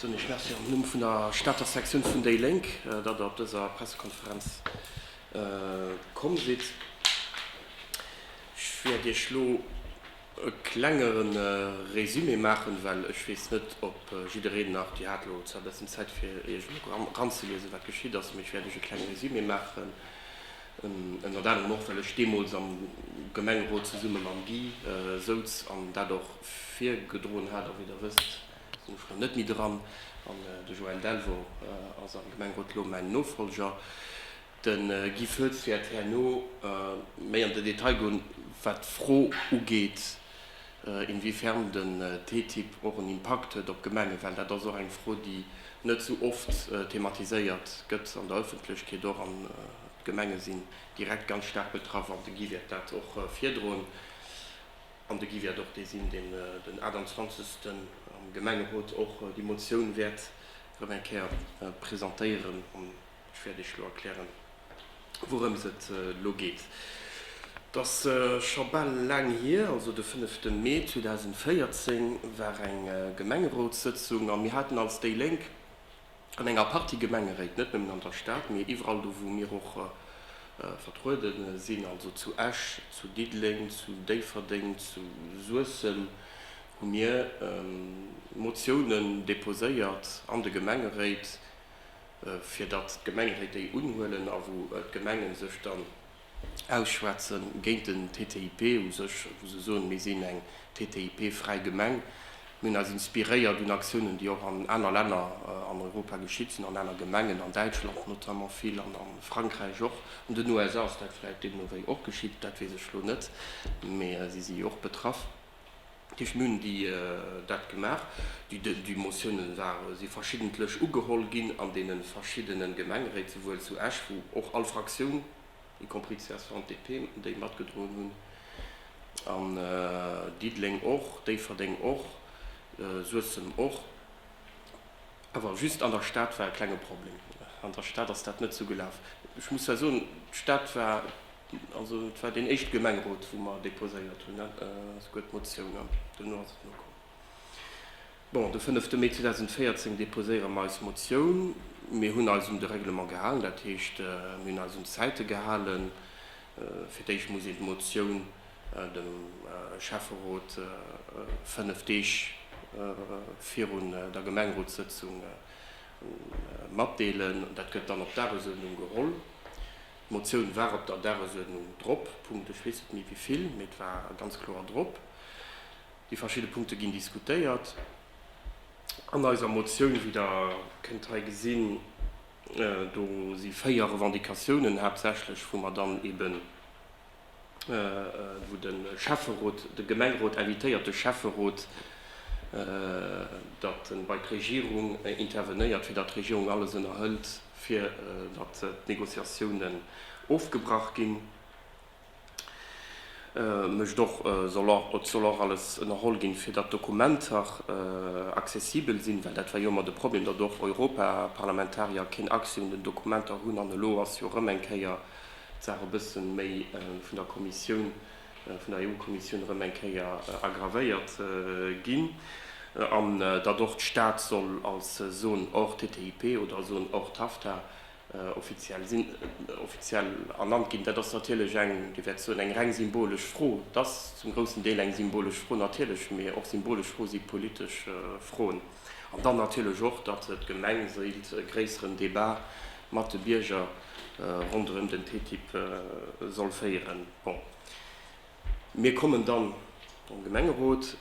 Soen ech Merci am Numm vun der Stater Sektioun vun déi Lénk, datt Der op dëser Pressekonferenz komm sidd. Ech wäert Iech elo e klenge Résumé maachen, well ech weess net, ob jiddereen nach déi hat. Elo zwar e bëssen Zäit, fir Iech eranzeliesen, wat geschitt ass, mee ech wäert Iech e klenge Résumé maachen. Ënnert anerem och, well ech deemools am Gemengerot zesumme mam Guy souz an dat och virgedroen hat. A wéi Der wësst, sinn ech elo net méi dran an de Joël Delvaux ass am Gemengerot elo mäin Nofollger. De Guy Foetz wäert herno méi an de Detail goen, wat d'Fro ugeet, Inwiefern den TTIP och en Impakt huet op d'Gemenge, well dat ass och eng Fro, déi net esou oft thematiséiert gëtt an der Ëffentlechkeet och. An d'Gemenge sinn direkt ganz staark betraff an de Guy wäert dat och virdroen. An de Guy wäert och dee sinn, deen den 28 am Gemengerot och déi Motioun wäert erëm eng Kéier presentéieren. Ech wäert Iech elo erklären, wourëms et elo geet. Et ass scho bal laang hier, also de fënnefte Mee 2014 war eng Gemengerotssëtzung a mir haten als déi Lénk an enger Partie Gemengeréit, net nëmmen an der Stad, mee iwwerall do, wou mir och vertruede sinn, also zu Esch, zu Diddeleng, zu Déifferdeng, zu Suessem, hu mir Motiounen deposéiert an de Gemengeréit, fir datt d'Gemengen hei déi unhuelen a wou d'Gemenge sech dann ausschwätze géint den TTIP u sech, wou se soen, mir sinn eng TTIP-fräi Gemeng, mir hunn eis inspiréiert un Aktiounen, déi och an aner Länner an Europa geschitt sinn, an aner Gemengen, an Däitschland notamment vill an a Frankräich och. An den USA ass dat vläicht deemno wéi och geschitt, dat weess ech elo net, mee si si jo och betraff. D'Députéierten hunn dat gemaach. Déi Motioune si verschiddentlech ugeholl ginn an deene verschiddene Gemengeréit, souwuel zu Esch, wou och all Fraktioun, y compris d'CSV an d'DP, déi matgedroen hunn, an Diddeleng och, Déifferdeng och, Suessem och. Awer just an der Stad war e klenge Problem. An der Stad ass dat net sou gelaf. Ech muss zwar soen, d'Stad war, also et war deen éischte Gemengerot, wou mer deposéiert hunn, souguer d'Motioun, an duerno ass et nokomm. Bon, de fënnefte Mee 2014 deposéiere mer eis Motioun. Mir hunn eis un de Règlement gehalen, dat heescht, mir hunn eis un d'Zäite gehalen. Fir d'éischt muss een d'Motioun dem Schäfferot fënnef Deeg virun der Gemengrotssëtzung matdeelen. Dat gëtt dann op d'Dagesuerdnung geholl. D'Motioun war op der Dagesuerdnung drop, Punkt, ech weess net méi wéi vill, mee et war ganz kloer drop. Déi verschidde Punkte ginn diskutéiert an eiser Motioun, wéi Der kënnt hei gesinn. Do si véier Revendicatiounen haaptsächlech, wou mer dann eeben wou de Schäfferot, de Gemengerot invitéiert de Schäfferot, datt en bei d'Regierung intervenéiert, fir datt d'Regierung alles ënnerhëlt, fir datt d'Négociatiounen ofgebrach ginn, mécht och, et soll och alles ënnerholl ginn, fir datt d'Dokumenter accessibel sinn, well dat war jo ëmmer de Problem, datt och Europaparlamentarier keen Accès un den Dokumenter hunn, an elo ass jo erëm eng Kéier, d'Saach e bësse méi vun der Kommissioun, vun der EU-Kommissioun erëm eng Kéier aggravéiert ginn, an datt och d'Stad soll als Zone hors TTIP oder Zone hors TAFTA offiziell sinn, offiziell ernannt ginn. Dat ass natierlech eng, Dir wäert soen, eng reng symbolesch Fro. Et ass zum groussen Deel eng symbolesch Fro, natierlech, mee och symbolesch Froe si politesch Froen. An dann natierlech och, datt d'Gemeng wéilt e gréisseren Débat mat de Bierger ronderëm den TTIP soll féieren. Bon, mir kommen dann am Gemengerot,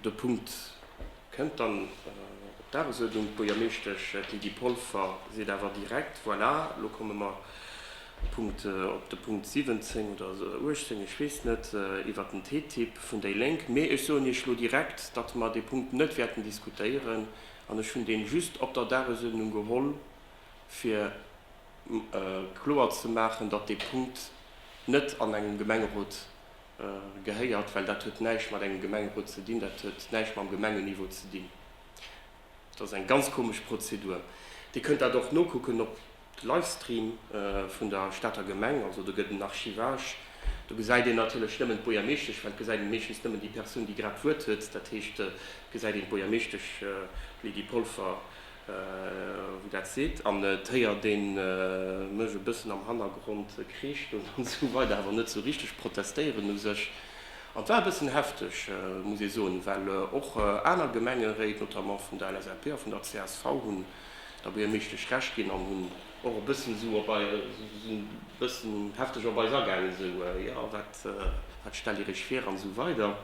de Punkt kënnt dann op d'Dagesuerdnung, d'Buergermeeschtesch Lydie Polfer seet awer direkt, Voilà, elo komme mer. Punkt op de Punkt 17 oder 18, ech weess net, iwwert den TTIP vun déi Lénk. Mee ech soen Iech elo direkt, datt mer dee Punkt net wäerten diskutéieren. An ech hunn dee just op der Dagesuerdnung geholl, fir kloer ze maachen, datt dee Punkt net an engem Gemengerot gehéiert, well dat huet näischt mat engem Gemengerot ze dinn, dat huet näischt mam Gemengenniveau ze dinn. Dat ass eng ganz komesch Prozedur. Dir kënnt dat och nokucken op. De Livestream vun der Stater Gemeng, also do gëtt en Archivage. Do gesäit een natierlech nëmmen d'Buergermeeschtesch, well et gesäit een meeschtens nëmmen déi Persoun, déi grad d'Wuert huet. Dat heescht, et gesäit een d'Buergermeeschtesch, d'Lydie Polfer, wou dat seet, an et héiert ee mech e bëssen am Hannergrond kreeschten an esou weider, awer net esou richteg protestéieren u sech. An et war e bëssen hefteg, muss ee soen, well och aner Gemengeréit, notamment vun der LSAP a vun der csv, hunn. Der Buergermeeschtesch Recht ginn an hunn och e bëssen esou op eis, esou e bëssen hefteg op eis agaangen, esou, jo, wat, wat stellt Dir Iech vir? an esou weider.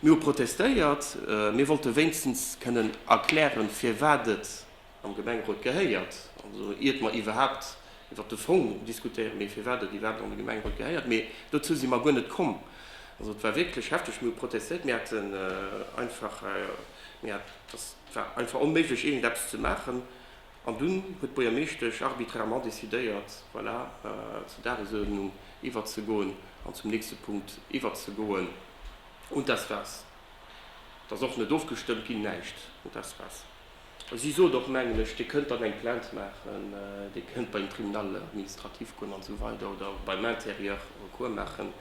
Mir hu protestéiert. Mir wollte wéinstens kënnen erklären, firwat et am Gemengerot gehéiert, also iert mer iwwerhaapt iwwert de Fong diskutéieren, mee firwat et iwwerhaapt an de Gemengerot gehéiert. Mee dozou si mer guer net komm. Also et war wierklech hefteg. Mir hu protestéiert. Mir hätten einfach, mir hat, dass, Et war einfach onméiglech iergendeppes ze maachen an dunn huet d'Buergermeeschtesch arbitrairement decidéiert, voilà, zur Dagesuerdnung iwwerzegoen an zum nächste Punkt iwwerzegoen, und das war's. Et ass och net ofgestëmmt ginn, näischt, und das war's. Si sot och, mengen ech, Dir kënnt dann eng Plainte maachen, Dir kënnt beim Tribunal administratif goen an esou weider oder beim Intérieur Recours maachen,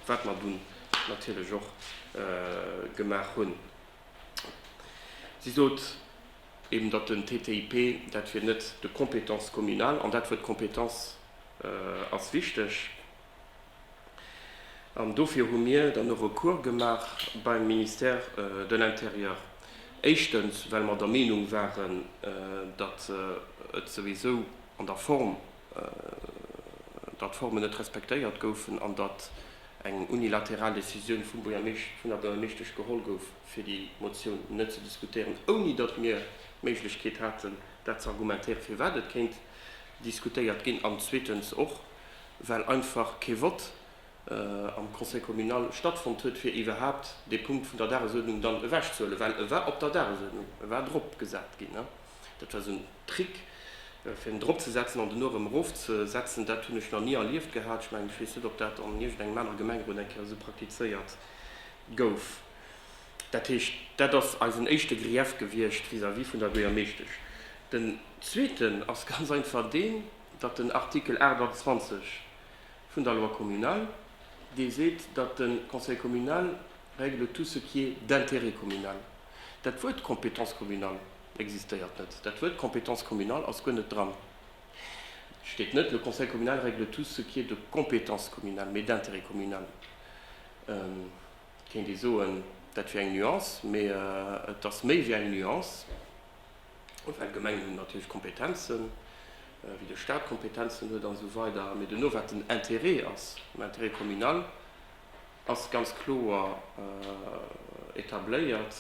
wat mer dunn natierlech och gemaach hunn. Si sot eben, datt den TTIP, dat wier net de compétence communale, an dat Wuert Compétence ass wichteg. An dofir hu mir dann e Recours gemaach beim Ministère de l'Intérieur. Éischtens, well mer der Meenung waren, datt et souwisou an der Form, datt d'Formen net respektéiert goufen an datt eng unilateral Decisioun vum Buergermeescht, vun der Buergermeeschtesch geholl gouf, fir déi Motioun net ze diskutéieren, ouni datt mir d'Méiglechkeet haten, dat ze argumentéieren, firwat et kéint diskutéiert ginn, an zweetens och, well einfach kee Vott am Conseil communal stattfonnt huet, fir iwwerhaupt dee Punkt vun der Dagesuerdnung dann ewechzehuelen, well e war op der Dagesuerdnung, e war dropgesat ginn. Dat war esou en Trick fir en drop ze setzen an dono erëm erof ze setzen. Dat hunn ech nach ni erlieft gehat. Ech mengen, ech weess net ob dat an iergendengem anere Gemenge run eng Kéier esou praktizéiert gouf. Dat heescht, dat ass eisen éischte Grief gewiescht vis-à-vis vun der Buergermeeschtesch. Den zweeten ass ganz einfach deen, datt den Artikel 28 vun der Loi communale, dee seet, datt de Conseil communal règle tout ce qui est d'intérêt communal. Dat Wuert compétence communale existéiert net. Dat Wuert compétence communale ass guer net dran. Et steet net, Le conseil communal règle tout ce qui est de compétence communale, mee d'intérêt communal. Et kéint ee soen, dat wier eng Nuance, mee et ass méi wéi eng Nuance, well d'Gemengen hunn natierlech Kompetenzen, wéi de Stat Kompetenzen huet an esou weider. Mee duerno, wat den Intérêt ass, den Intérêt communal, ass ganz kloer etabléiert,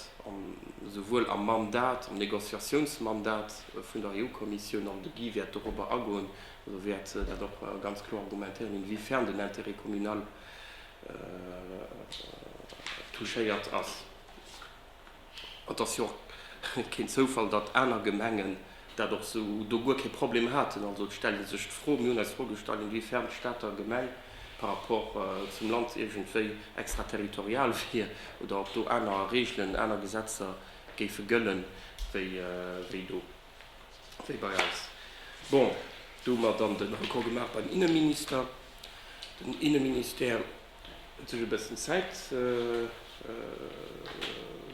esouwuel am Mandat, am Négociatiounsmandat vun der EU-Kommissioun, an de Guy wäert dorobber agoen, also wäert dat och ganz kloer argumentéieren, inwiefern den Intérêt communal touchéiert ass. Et ass jo och keen Zoufall, datt aner Gemengen dat och sou do guer kee Problem haten. Also et stellt ee sech d'Fro, mir hunn eis d'Fro gestallt, inwiefern d'Stater Gemeng par rapport zum Land iergendwéi extraterritorial wier oder ob do aner Regeln, aner Gesetzer géife gëllen wéi do, wéi bei eis. Bon, do hu mer dann de Recours gemaach beim Inneminister, den Inneministère. Huet sech e bëssen Zäit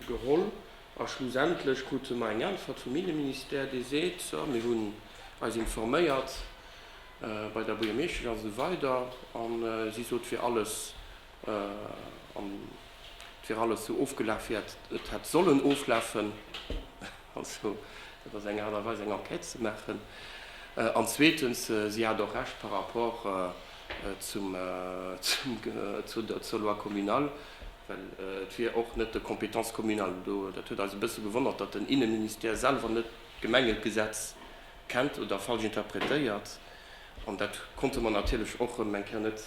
geholl a schlussendlech krute mer eng Äntwert vum Inneministère, dee seet, So, mir hunn eis informéiert bei der Buergermeeschtesch a sou weider a si sot, et wier alles, et wier alles esou ofgelaf, wéi et hätt sollen oflafen. Also, dat ass eng Aart a Weis, eng Enquête ze maachen. An zweetens, si hat och Recht par rapport zur Loi communale, well et wier och net de Compétence communale do. Dat huet eis e bësse gewonnert, datt den Inneministère selwer net d'Gemengegesetz kennt oder falsch interpretéiert. An dat konnte mer natierlech och erëm eng Kéier net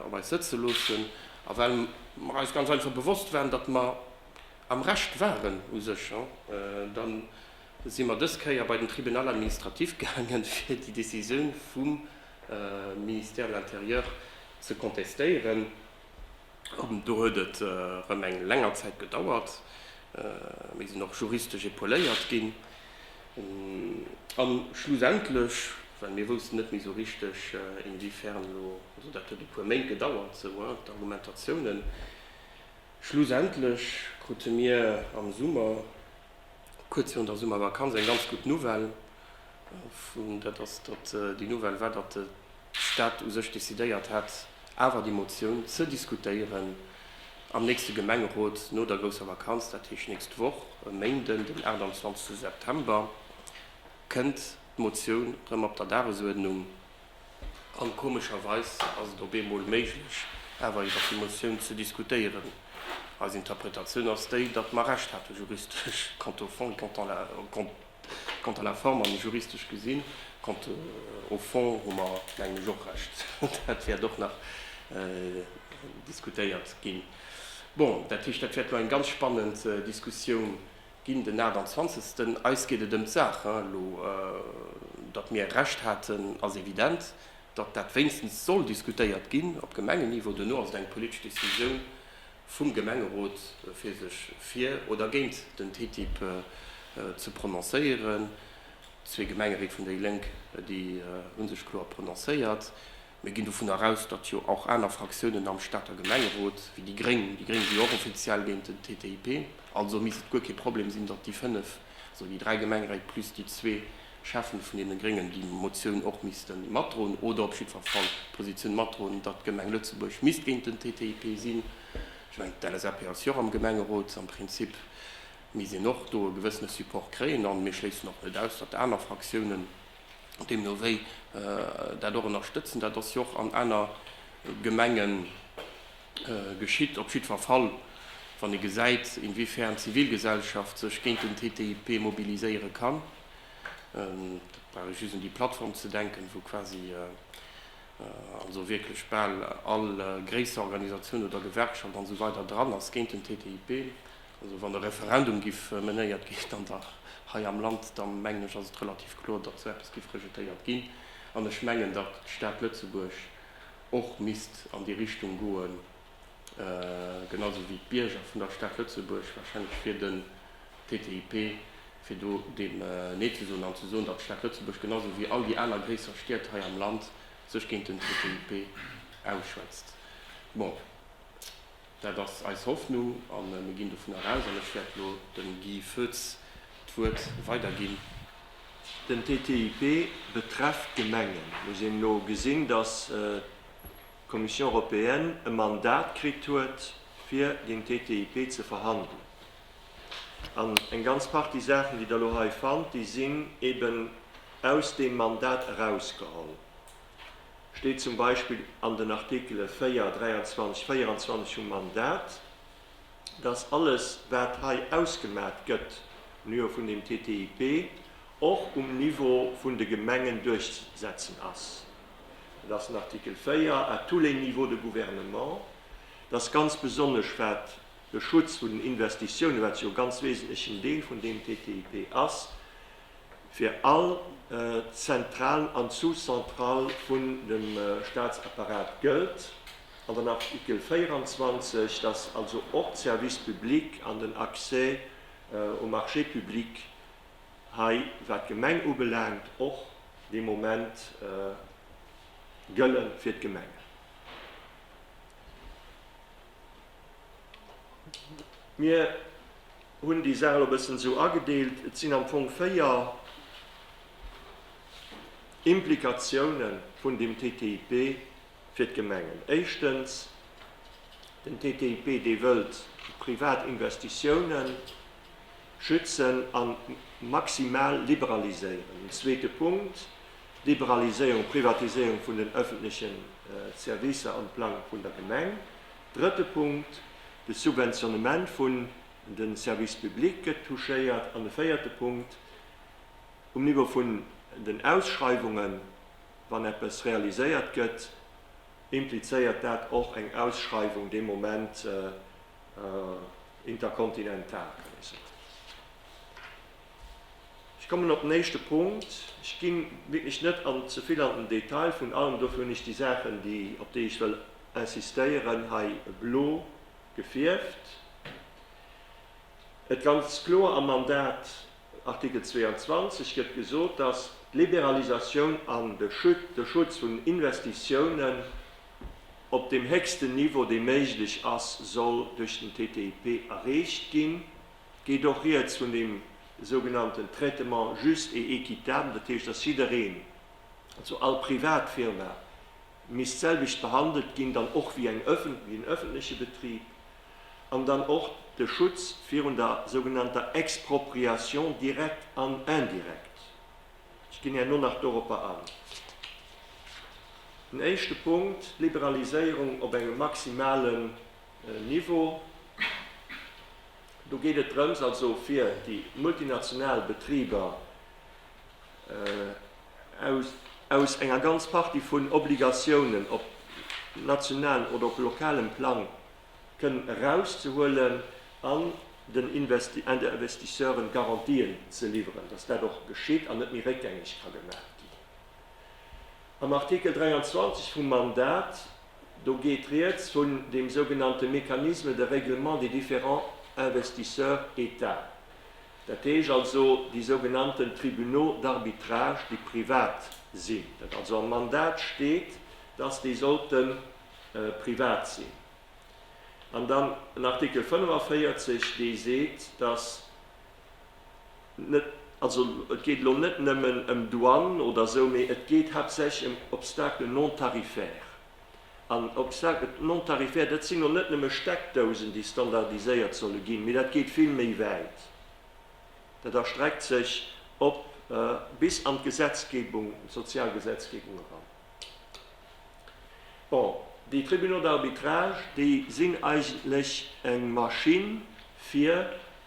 op eis sëtze loossen. A well mer eis ganz einfach bewosst waren, datt mer Am Recht waren, u sech. Da si mer dës Kéier bei den Tribunal administratif gaangen, fir déi Décisioun vum Ministère de l'Intérieur ze contestéieren. Do huet et erëm eng länger Zäit gedauert. Mir sinn och juristesch epauléiert ginn. A schlussendlech, well mir woussten net méi esou richteg, inwiefern elo, also dat huet e puer Méint gedauert, esou d'Argumentatiounen, Schlussendlech krute mir am Summer, kuerz virun der Summervakanz, eng ganz gutt Nouvelle. Dat ass datt déi Nouvelle war, datt de Stat u sech decidéiert hat, awer déi Motioun ze diskutéieren am nächste Gemengerot no der grousser Vakanz. Dat heescht, nächst Woch e Méinden, den 28 September, kënnt d'Motioun erëm op der Dagesuerdnung. An komescherweis ass et op eemol méiglech, awer iwwer déi Motioun ze diskutéieren. Eis Interpretatioun ass déi, datt mer Recht hate juristesch, quant au fond, quant à la, quant à la forme an juristesch gesinn, quant au fond hu mer, mengen ech, och Recht. Dat wäert och nach diskutéiert ginn. Bon, dat heescht, dat wäert elo eng ganz spannend Diskussioun Ginn den 28. Eis geet et ëm d'Saach, hein. Elo datt mir Recht haten ass evident. Datt dat wéinstens soll diskutéiert ginn op Gemengenniveau, duerno ass et eng politesch Decisioun vum Gemengerot fir sech fir oder géint den TTIP ze prononcéieren. Zwee Gemengeried vun déi Lénk déi hu sech kloer prononcéiert. Mir ginn dovunner aus, datt jo och aner Fraktiounen am Stater Gemengerot, wéi déi Gréng, déi Gréng si jo och offiziell géint den TTIP, also misst et guer kee Problem sinn, datt déi fënnef, also déi dräi Gemengeréit plus déi zwee Schäffen vun deene Gréngen, déi Motioun och misste matdroen oder op jiddwer Fall d'Positioun matdroen, datt d'Gemeng Lëtzebuerg misst géint den TTIP sinn. Ech mengen, d'LSAP ass jo och am Gemengerot. Am Prinzip misst een och do e gewëssene Support kréien. A mir schléissen och net aus, datt aner Fraktiounen Deemno wéi dat och ënnerstëtzen. Dat ass jo och an aner Gemenge geschitt. Op jiddwer Fall, wann ee gesäit, inwiefern d'Zivilgesellschaft sech géint den TTIP mobiliséiere kann, da brauch ech just un déi Plattform ze denken, wou quasi also wierklech bal all gréisser Organisatioun oder Gewerkschaft an esou weider dran ass géint den TTIP. Also wann e Referendum giff menéiert ginn, dann dach hei am Land, da mengen ech ass et relativ kloer, datt esou eppes giff rejetéiert ginn. An ech mengen, datt d'Stad Lëtzebuerg och misst an déi Richtung goen, genau esou wéi d'Bierger vun der Stad Lëtzebuerg wahrscheinlech fir den TTIP, fir do deem Nee ze soen an ze soen, datt d'Stad Lëtzebuerg genau esou wéi all déi aner gréisser Stied hei am Land sech géint den TTIP ausschwätzt. Bon. Dat ass eis Hoffnung a mir ginn dovun eraus, an ech wäert elo dem Guy Foetz d'Wuert weiderginn. Den TTIP betrefft d'Gemengen. Mir sinn elo gesinn, dass d'Commission européenne e Mandat kritt huet, fir den TTIP ze verhandelen. An eng ganz Partie Saachen, déi Der elo hei fannt, déi sinn eeben aus deem Mandat erausgeholl. steet zum Beispill an den Artikele 4, 23, 24 vum Mandat, dass alles, wat hei ausgemat gëtt um Niveau vun dem TTIP, och um Niveau vun de Gemengen duerchzusetzen ass. Dat ass den Artikel 4, à tous les niveaux de gouvernement. Dass ganz besonnesch, wat de Schutz vun den Investitiounen, wat jo e ganz wesentlechen Deel vun deem TTIP ass, fir all Zentral an Sous-Central vun dem Staatsapparat gëllt, an den Artikel 24, dass also och d'Services publics an den Accès aux marchés publics hei, wat d'Gemeng ubelaangt, och dee Moment gëlle fir d'Gemengen. Mir hunn déi Saach elo e bëssen esou agedeelt, et sinn am Fong véier Implikatioune vun deem TTIP fir d'Gemengen. Éischtens, den TTIP, dee wëllt privat Investitioune schützen a maximal liberaliséieren. Den zweete Punkt, Liberaliséierung, Privatiséierung vun den öffentleche Servicer am Plang vun der Gemeng. Drëtte Punkt, de Subventionnement vun de Services publics gëtt touchéiert. An de véierte Punkt, um Niveau vun den Ausschreiwungen, wann eppes realiséiert gëtt, implizéiert dat och eng Ausschreiwung dee Moment interkontinental, kann ee soen. Ech kommen op den éischte Punkt. Ech gi wierklech net an ze vill an den Detail vun allem. Dofir hunn ech déi Saachen, déi, op déi ech wëll insistéieren, hei blo gefierft. Et ganz kloer am Mandat, Artikel 22, gëtt gesot, dass d'Liberalisatioun an de Schut, de Schutz vun Investitiounen op deem héchsten Niveau, dee méiglech ass, soll duerch den TTIP erreecht ginn. geet och rieds vun deem sougenannten Traitement juste et équitable, dat heescht, dass jiddereen, also all Privatfirma, misst d'selwecht behandelt ginn, dann och wéi en öffentleche Betrib, an dann och de Schutz virun der sougenannter Expropriation directe an indirecte. Ech ginn herno nach doropper an. Den éischte Punkt, d'Liberaliséierung op engem maximalen Niveau. Do geet et drëms, also fir déi multinational Betriber aus enger ganz Partie vun Obligatiounen op nationalem oder op lokalem Plang kënnen erauszehuelen an den Investisseuren Garantien ze liwweren, dass dat och geschitt an net méi réckgängeg ka gemaach ginn. Am Artikel 23 vum Mandat Do geet rieds vun dem sougenannte Mécanisme de règlement des différents investisseurs états, dat heesch also déi sougenannten Tribunaux d'arbitrage, déi privat sinn, dat also am Mandat steet, dass déi sollte privat sinn. An dann en Artikel 45, dee seet, dass Also et geet elo net nëmmen ëm Douane oder esou, mee et geet haaptsächlech ëm Obstacles non-tarifaires. An Obstacles non-tarifaires, dat sinn elo net nëmme Steckdousen, déi standardiséiert solle ginn, mee dat geet vill méi wäit. Dat erstreckt sech op bis an d'Gesetzgebung, d'Sozialgesetzgebung eran. Bon, déi Tribunaux d'arbitrage, déi sinn eigentlech eng Maschinn, fir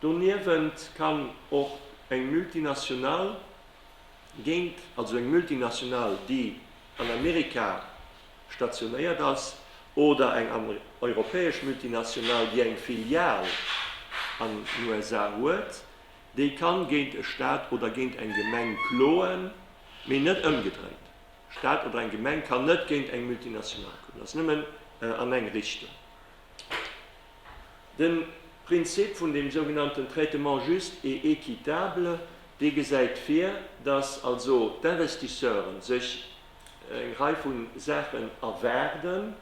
Doniewent kann och eng Multinational géint, also eng Multinational, déi an Amerika stationéiert ass, oder eng europäesch Multinational, déi eng Filial an den USA huet, déi kann géint e Staat oder géint eng Gemeng kloen, mee net ëmgedréint. E Staat oder eng Gemeng kann net géint eng Multinational kloen. Dat ass nëmmen an eng Richtung. Den Prinzip vun dem sougenannten Traitement juste et équitable, dee gesäit vir, dass also d'Investisseuren sech eng Rei vu Saachen erwaarden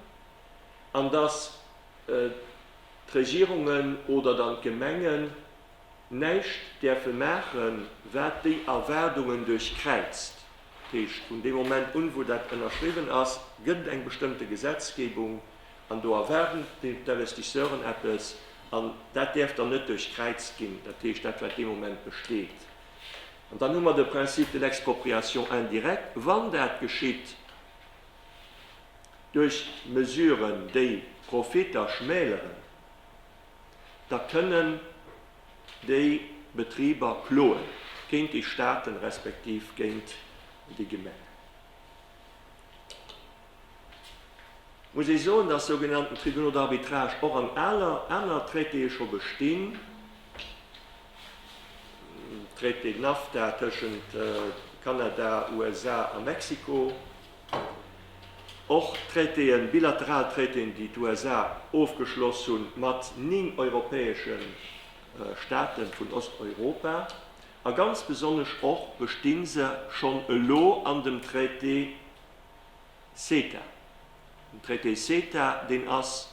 an dass d'Regierungen oder dann d'Gemengen näischt däerfe maachen, wat déi Erwaardungen duerchkräizt. Dat heescht, vun deem Moment un, wou dat ënnerschriwwen ass, gëtt et eng bestëmmte Gesetzgebung An do erwaarden d'Investisseuren eppes, an dat däerf dann net duerchkräizt ginn, dat heescht dat wat dee Moment besteet. An dann hu mer de Principe de l'expropriation indirecte, wann dat geschitt duerch Mesuren, déi d'Profitter schmäleren, da kënnen déi Betriber kloen géint déi Staaten, respektiv géint déi Gemengen. muss ee soen, dass sou genannten Tribunaux d'arbitrage och an aler aner Traitéë scho bestinn, Traité NAFTA tëschent Kanada, USA a Mexiko, och Traitéen, bilateral Traitéen, déi d'USA ofgeschloss hu mat 9 europäesche Staate vun Osteuropa, a ganz besonnesch och besti se schonn elo an dem Traité CETA. Den Traité CETA, deen ass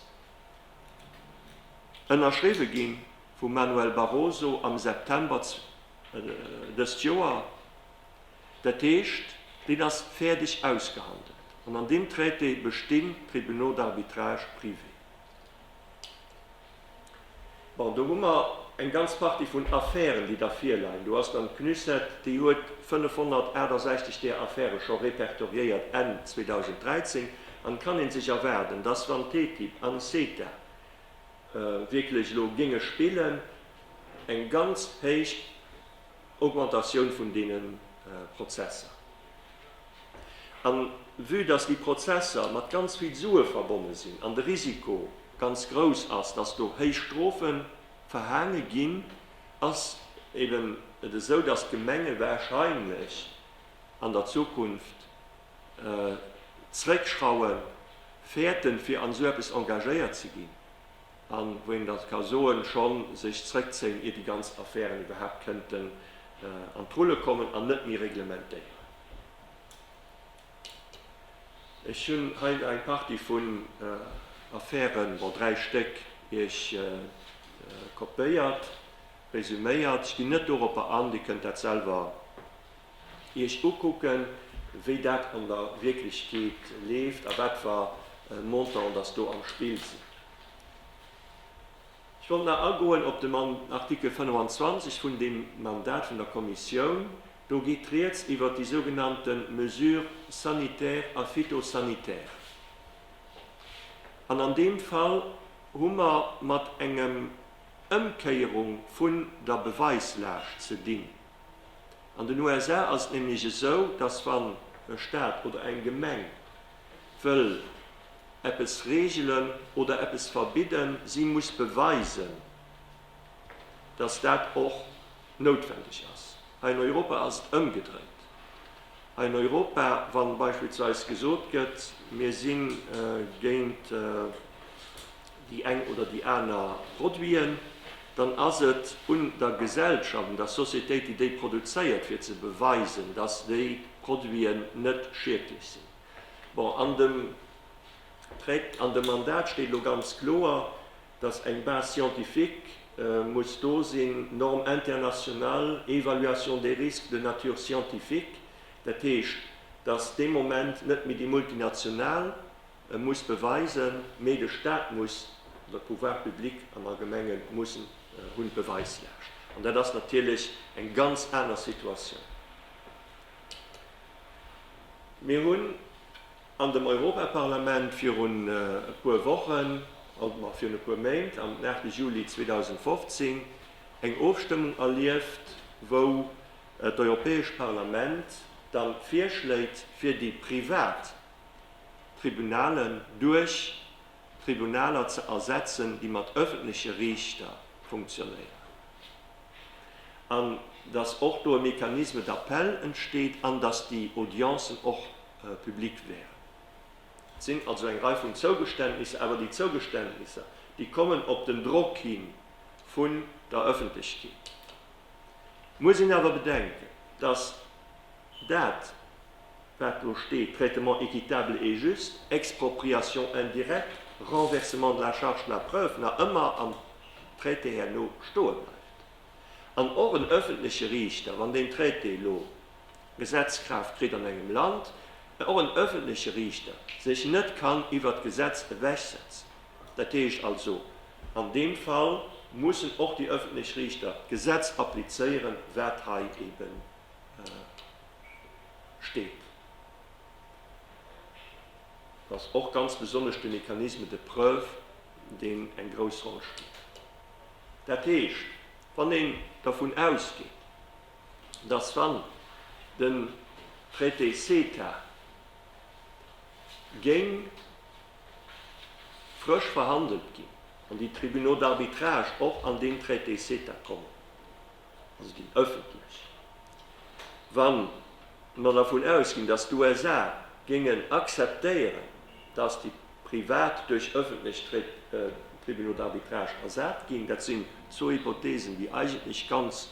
ënnerschriwwe gi vum Manuel Barroso am September dëst Joer, dat heescht, deen ass fäerdeg ausgehandelt an an deem Traité bestinn d'Tribunaux d'arbitrage privés. Bon, do hu mer eng ganz Partie vun Affären, déi da virleien. Do ass dann d'CNUSET, déi huet 568 där Affäre scho répertoriéiert Enn 2013. An et kann ee sech erwaarden, dass, wann TTIP an CETA wierklech elo géinge spillen, eng ganz héich, Augmentatioun vun deene Prozesser. An vue dass déi Prozesser mat ganz vill Sue verbonne sinn an de Risiko ganz grouss ass, dass do héich Strofe verhaange ginn, ass eben et esou, dass d'Gemenge warscheinlech an der Zukunft zréckschraue wäerten, fir an esou eppes engagéiert ze ginn. a wou een da ka soen, schonn sech zréckzéien, ier déi ganz Affären iwwerhaapt kënnten an d'Rulle kommen an net méi reglementéieren. Ech hunn hei nach eng Partie vun Affären, bon, dräi Stéck, Iech kopéiert, resuméiert. Ech ginn net doropper an, Dir kënnt dat selwer. Iech ukucken, wéi dat an der Wierklechkeet leeft a wat fer Montante dass do am Spill sinn. Ech wollt nach agoen op den Artikel 25 vun deem Mandat vun der Kommissioun. Do geet Rieds iwwert déi sougenannte Mesures sanitaires a phytosanitaires. An an deem Fall hu mer mat engem Ëmkéierung vun der Beweislaascht ze dinn. An den USA ass et nämlech esou, dass wann e Staat oder eng Gemeng wëll eppes regelen oder eppes verbidden, si muss beweisen, dass dat och noutwendeg ass. Hei an Europa ass et ëmgedréit. Hei an Europa, wa beispillsweis gesot gëtt, mir si géint. déi eng oder déi aner Produiten, dann ass et un der Gesellschaft, un der Sociétéit, déi déi produzéiert, fir ze beweisen, dass déi Produiten net schiedlech sinn. Bon, an dem Tract, an dem Mandat steet elo ganz kloer, dass eng Base scientifique muss do sinn, Norme internationale, évaluation des risques de nature scientifique. Dat heescht, dass dee Moment net méi déi Multinational, E muss beweisen, mee de Staat muss, oder d'Pouvoirs publics am Allgemenge mussen, hunn d'Beweislaascht. An dat ass natierlech eng ganz aner Situatioun. Mir hunn an dem Europaparlament virun e puer Wochen, ma virun e puer Méint, am 8 Juli 2015, eng Ofstëmmung erlieft, wou d'Europäesch Parlament dann d'Virschléit fir déi privat d'Tribunalen duerch Tribunaler ze ersetzen, déi mat öffentleche Riichter funktionéieren, an dass och do e Mécanisme d'appel entsteet an dass déi Audiencen och public wären. Et sinn also eng Rei vun Zougeständnisser, awer déi Zougeständnisser, déi kommen op den Drock hi vun der Öffentlechkeet. Et muss een awer bedenken, dass dat, wat do steet, traitement équitable et juste, expropriation indirecte, renversement de la charge de la preuve, nach ëmmer am Traité herno stoe bleift. An och en öffentleche Riichter, wann deen Traité elo Gesetzkraaft kritt an engem Land, och en öffentleche Riichter sech net kann iwwert d'Gesetz ewechsetzen. Dat heescht also, an deem Fall mussen och déi öffentlech Riichter d'Gesetz applizéieren, wat hei eben. steet, dass och ganz besonnesch de Mécanisme de preuve, deen eng grouss Roll spillt. Dat heescht, wann een dervun ausgeet, dass wann den Traité CETA géing frësch verhandelt ginn an déi Tribunaux d'arbitrage och an deen Traité CETA kommen, also déi ëffentlech, wa mer dervun ausginn, datt d'USA géingen akzeptéieren, datt déi privat duerch ëffentlech Tribunaux d'arbitrage ersat ginn, dat sinn zwou Hypothesen, déi eigentlech ganz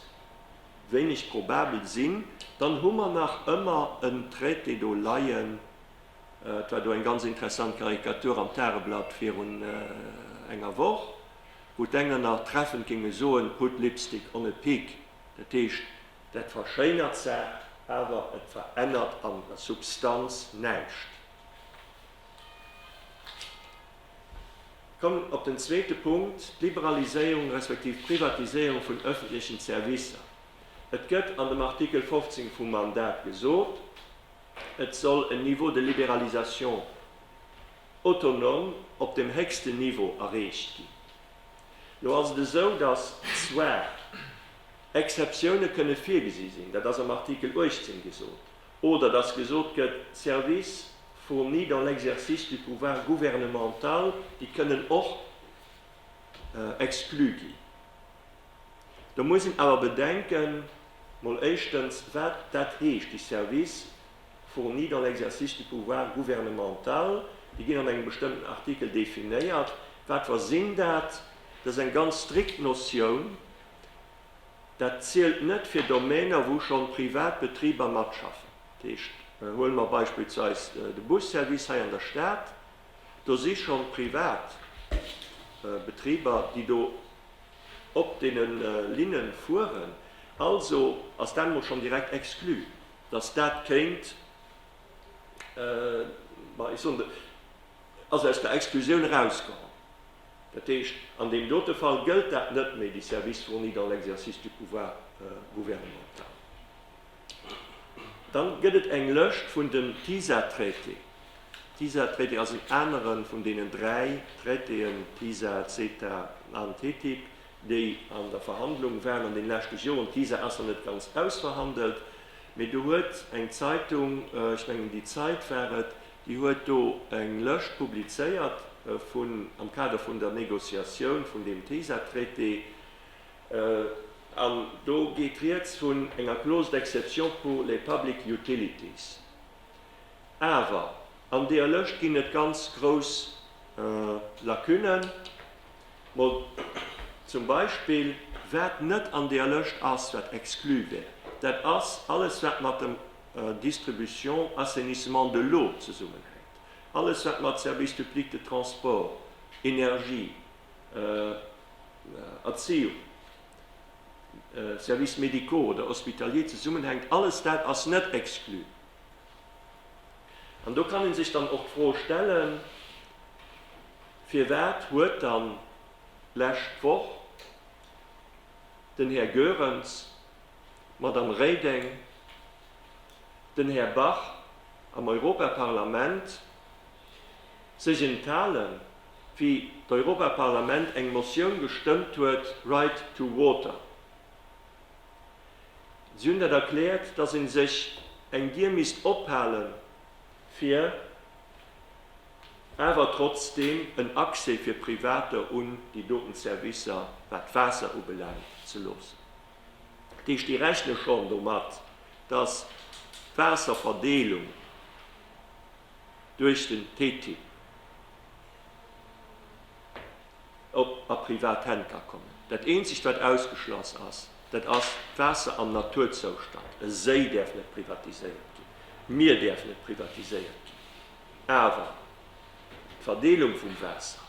wéineg probabel sinn, dann hu mer nach ëmmer en Traité do leien. Et war do eng ganz interessant Karikatur am Tageblatt virun enger Woch. wou d'Enger nach treffend géinge soen, put lipstick on a pig, dat heescht, dat verschéinert d'Saach, awer et verännert an der Substanz näischt. Ech kommen op den zweete Punkt, d'Liberaliséierung respektiv d'Privatiséierung vun öffentlechen Servicer. Et gëtt an dem Artikel 15 vum Mandat gesot, et soll en Niveau de libéralisation. autonom op dem héchsten Niveau erreecht ginn. Lo ass et esou, dass zwar Exceptioune kënne virgesi sinn, dat ass am Artikel 18 gesot, oder dass gesot gëtt, d'Services fournis dans l'exercice du pouvoir gouvernemental, déi kënnen och exclu ginn. Do muss een awer bedenken, mol éischtens, wat dat heescht, déi Services. fourni dans l'exercice du pouvoir gouvernemental, déi ginn an engem bestëmmten Artikel definéiert. Wat wa sinn dat? Dat ass eng ganz strikt Notioun. Dat zielt net fir Domainer, wou schonn privat Betriber matschaffen. Dat heescht, huele mer beispillsweis de Busservice hei an der Stad, do si schonn privat Betriber, déi do op deene Linne fueren. Also ass dat emol schonn direkt exclu. datt dat kéint, ma ech soen, ass aus der Exclusioun erauskomm, dat heescht, an deem dote Fall gëllt dat net méi, déi services fournis dans l'exercice du pouvoir gouvernemental. Dann gëtt et eng Lëscht vun den TISA-Traités. TISA-Traité ass en anere vun deenen dräi Traitéen, TISA, CETA an TTIP, déi an der Verhandlung waren an den leschte Joren, d'Visa ass nach net ganz ausverhandelt, mee do huet eng Zeitung, ech mengen Die Zeit war et, déi huet do eng Lëscht publizéiert vun, am Kader vun der Négociatioun vun deem TISA-Traité, an do geet rieds vun enger Clause d'exception pour les public utilities. Awer an deeër Lëscht ginn et ganz grouss Lacunen. Mä zum Beispill, wat net an där Lëscht ass, wat exclu wär, dat ass alles, wat mat dem Distribution, Assainissement de l'eau zesummenhänkt, alles, wat mat Service public de transport, Energie, Erziehung, Services médicaux oder hospitaliers zesummenhänkt, alles dat ass net exclu. An do kann ee sech dann och d'Fro stellen, Firwat huet dann d'lescht Woch den Här Goerens, d'Madame Reding, den Här Bach am Europaparlament sech enthalen, wéi d'Europaparlament eng Motioun gestëmmt huet, Right to water? Si hunn dat erkläert, dass ee sech eng Dier misst ophale fir awer trotzdeem en Accès fir Privater un déi doten Servicer, wat d'Waasser ubelaangt, ze loossen. Dat heescht, déi rechne schonn domat, dass d'Waasserverdeelung duerch den TTIP. op a privat Hänn ka kommen. Dat eenzegt wat ausgeschloss ass, dat ass d'Waasser am Naturzoustand. E Séi däerf net privatiséiert ginn, d'Mier däerf net privatiséiert ginn, awer d'Verdeelung vum Waasser,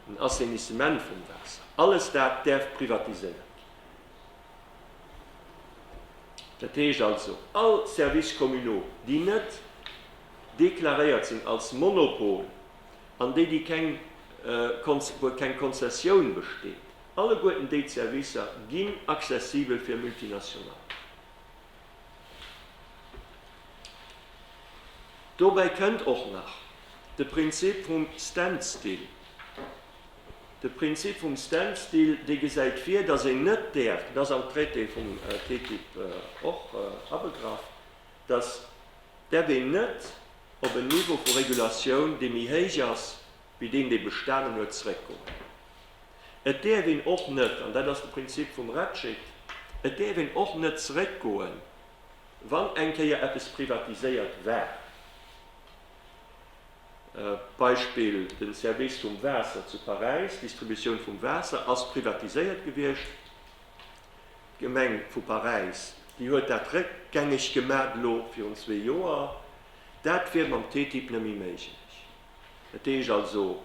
den Assainissement vum Waasser, alles dat däerf privatiséiert ginn. Dat heescht also, all Services communaux, déi net deklaréiert sinn als Monopol an déi, déi keng, wou keng Konzessioun besteet, alleguerten déi d'Servicer ginn accessibel fir Multinationalen. Dobäi kënnt och nach de Prinzip vum Standstill. De Prinzip vum Standstill, dee gesäit vir, dass een net däerf, dat ass am Traité vum TTIP och abegraff, dass dat een net op en Niveau vu Regulatioun, dee méi héich ass wéi deen, dee bestanen huet, zréckgoen. Et däerf een och net, an dat ass de Prinzip vum RETCIT, et däerf een och net zréckgoen, wann eng Kéier eppes privatiséiert war, Beispill den Service vum Waasser zu Paräis, d'Distributioun vum Waasser ass privatiséiert gewiescht. D'Gemeng vu Paräis, déi huet dat réckgängeg gemat elo virun zwee Joer. Dat wier mam TTIP net méi méiglech. Dat heescht also,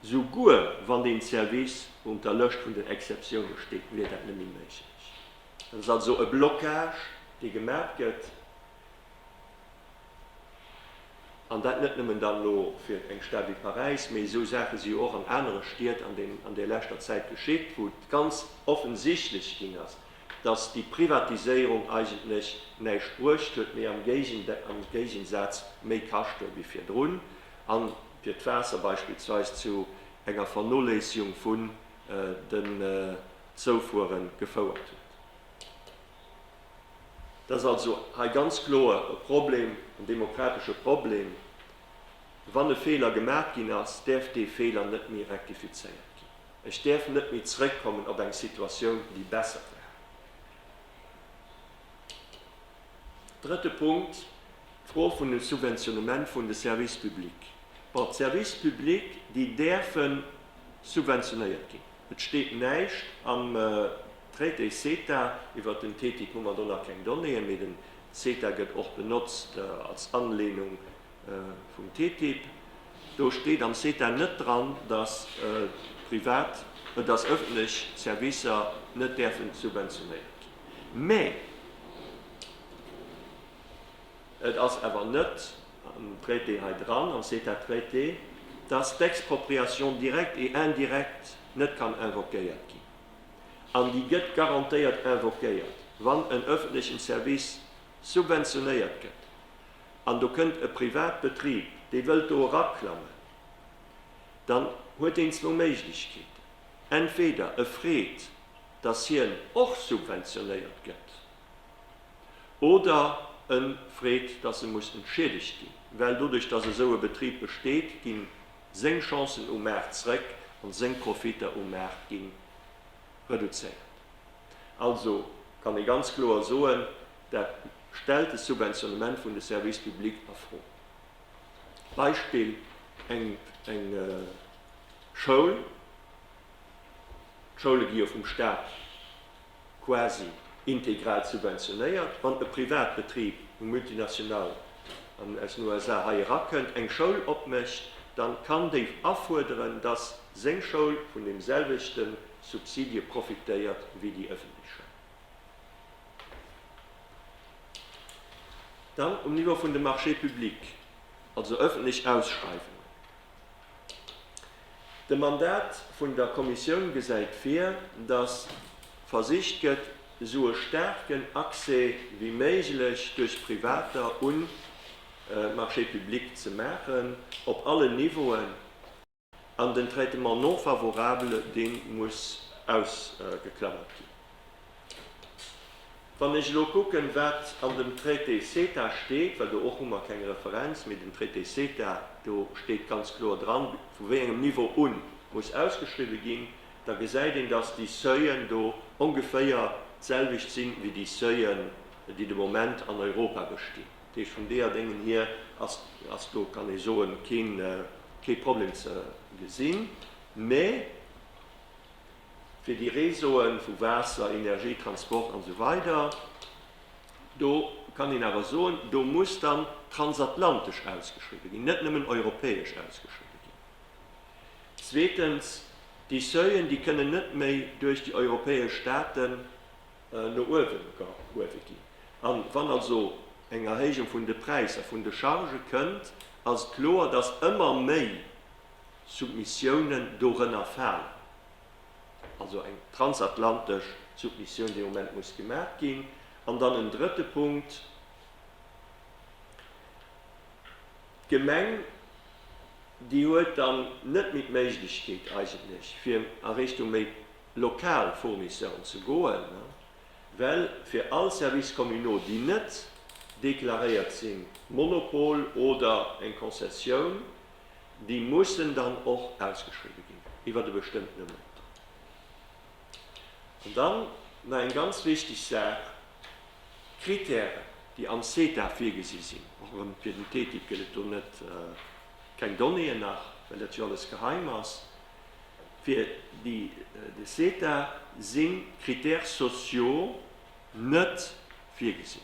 souguer wann deen Service un der Lëscht vun den Exceptiounen steet, wier dat net méi méiglech. Dat ass also e Blocage, dee gemat gëtt. An dat net nëmmen dann elo fir eng Stad wéi Paräis, mee esou Saache si jo och an anere Stied an där leschter Zäit geschitt, wou et ganz offensichtlech ginn ass, datt déi Privatiséierung eigentlech näischt bruecht huet, mee am Géigensaz méi kascht huet wéi virdrun. A fir d'Waasser beispillsweis zu enger Vernoléissegung vun den Zoufuere gefouert huet. Dat ass also hei ganz kloer e Problem, en demokratesche Problem. Wann e Feeler gemaach ginn ass, däerf dee Feeler net méi rektifizéiert ginn. Ech däerf net méi zrëckkommen op eng Situatioun, déi besser war. Drëtte Punkt, d'Fro vun dem Subventionnement vun de Services publics. Bon, d'Services publics, déi däerfe subventionéiert ginn. Et steet näischt am Traité CETA iwwert den TTIP, hu mer do nach keng Donnéeën, mee den CETA gëtt och benotzt als Anlehnung vum TTIP. Do steet am CETA net dran, dass privat, dass ëffentlech Servicer net däerfen subventionéiert ginn. Mä et ass awer net dréit dee hei dran an c'est à traiter, dass d'Expropriation directe et indirecte net kann invoquéiert ginn. An déi gëtt garantéiert invoquéiert, wann en öffentlechen Service subventionéiert gëtt an do kënnt e Privatbetrib, dee wëllt do eraklammen, dann huet deen zwou Méiglechkeeten, entweder e freet, dass hien och subventionéiert gëtt. oder e freet, dass e muss entschiedegt ginn, well doduerch, dass esou e Betrib besteet, gi seng Chancen um Maart zréck an seng Profiter um Maart gi reduzéiert. Also kann ee ganz kloer soen, dat stellt de Subventionnement vun de Services publics a Fro. Beispill, eng Schoul, d'Schoule gi jo vum Staat quasi integral subventionéiert. Wann e Privatbetrib, e Multinational, aus den USA hei erakënnt, eng Schoul opmécht, dann kann déi afuerderen, dass seng Schoul vun dem selwechte Subsidie profitéiert wéi déi ëffentlech Schoul. Dann um Niveau vun de Marchés publics, also ëffentlech Ausschreiwungen. De Mandat vun der Kommissioun gesäit vir, datt versicht gëtt, esou e staarken Accès wéi méiglech duerch Privater un d'Marchés publics ze maachen, op allen Niveauen, an den Traitement non favorable, dee muss ausgeklammert ginn. Wann ech elo kucken, wat an dem Traité CETA steet, well do och hu mer keng Referenz, mee den Traité CETA, do steet ganz kloer dran, vu wéi engem Niveau u muss ausgeschriwwen ginn, da gesäit een, dass déi Seuillen do ongeféier d'selwecht si wéi déi Seuillen, déi de Moment an Europa bestinn. Dat heescht, vum Deadéngen hier ass do, kann ee soen, kee Problem ze gesinn. Mee Fir déi Réseauen vu Waasser, Energie, Transport an esou weider, do kann een awer soen, do muss dann transatlantesch ausgeschriwwen ginn, net nëmmen europäesch ausgeschriwwen ginn. Zweetens, déi Seuilen, déi kënnen net méi duerch déi europäesch Staaten no uewe gehuewe ginn. A wann also eng Erhéijung vun de Präisser vun de Chargë kënnt, ass et kloer, dass ëmmer méi Submissiounen dorënner falen, also eng transatlantesch Submissioun, déi am Moment muss gemaach ginn. An dann en drëtte Punkt, D'Gemeng, déi huet dann net méi d'Méiglechkeet eigentlech, fir a Richtung méi lokal Fournisseuren ze goen, well fir all Services communaux, déi net deklaréiert sinn, Monopol oder eng Konzessioun, déi mussen dann och ausgeschriwwen ginn iwwert e bestëmmtene Montant. An dann nach eng ganz wichteg Saach, d'Kritären, déi am CETA virgesi sinn, och erëm fir den TTIP gëtt et do net, keng Donnéeën nach, well dat jo alles geheim ass, fir de CETA sinn d'Critères sociaux net virgesinn.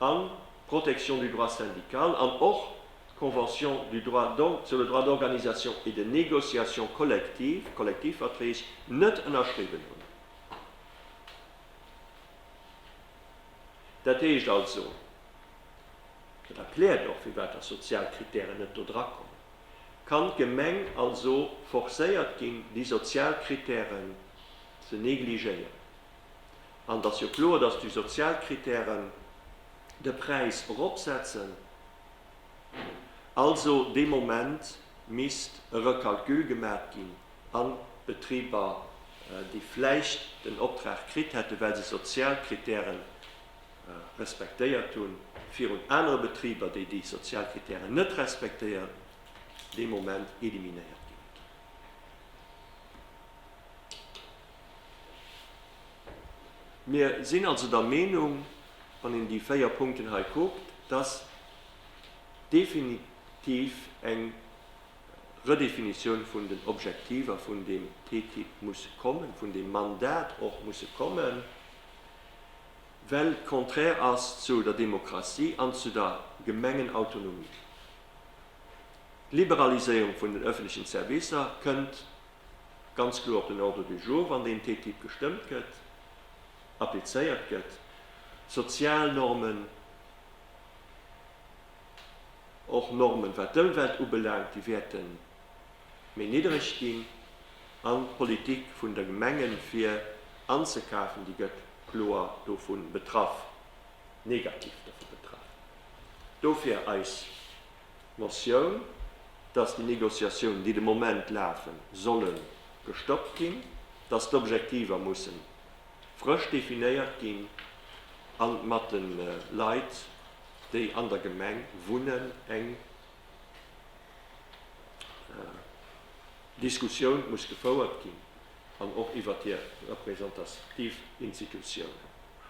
an d'Protection du droit syndical an och d'Convention du droit sur le droit d'organisation et de négociation collective, Kollektivverträg, net ënnerschriwwen hunn. Dat heescht also, dat erkläert och, firwat dass sozial Kritären net do drakommen, kann d'Gemeng also forcéiert ginn, déi sozial Kritären ze negligéieren An et ass jo kloer, dass déi sozial Kritären de Präis eropsetzen. Also dee Moment misst e Recalcul gemat ginn a Betriber, déi vläicht den Optrag kritt hätten, well se sozial Kritäre respektéiert hunn, virun anere Betriber, déi déi sozial Kritären net respektéieren, dee Moment eliminéiert ginn. Mir sinn also der Meenung, wann een déi véier Punkten hei kuckt, dass definitiv eng Redefinitioun vun den Objektiver vun deem TTIP muss kommen, vun deem Mandat och musse kommen, well et contraire ass zu der Demokratie an zu der Gemengenautonomie. D'Liberaliséierung vun den öffentlechen Servicer kënnt ganz kloer op den Ordre du jour, wann deen TTIP gestëmmt gëtt, applizéiert gëtt. Sozialnormen, och Normen, wat d'Ëmwelt ubelaangt, déi wäerte méi niddereg ginn. An d'Politik vun de Gemengen, fir anzekafen, déi gëtt kloer dovun betraff. negativ dovu betraff. Dofir eis Motioun, dass déi Négociatiounen, déi de Moment lafen, solle gestoppt ginn, dass d'Objektiver musse frësch definéiert ginn a mat de Leit, déi an der Gemeng wunnen, eng Diskussioun muss gefouert ginn an och iwwert hir representativ Institutionen.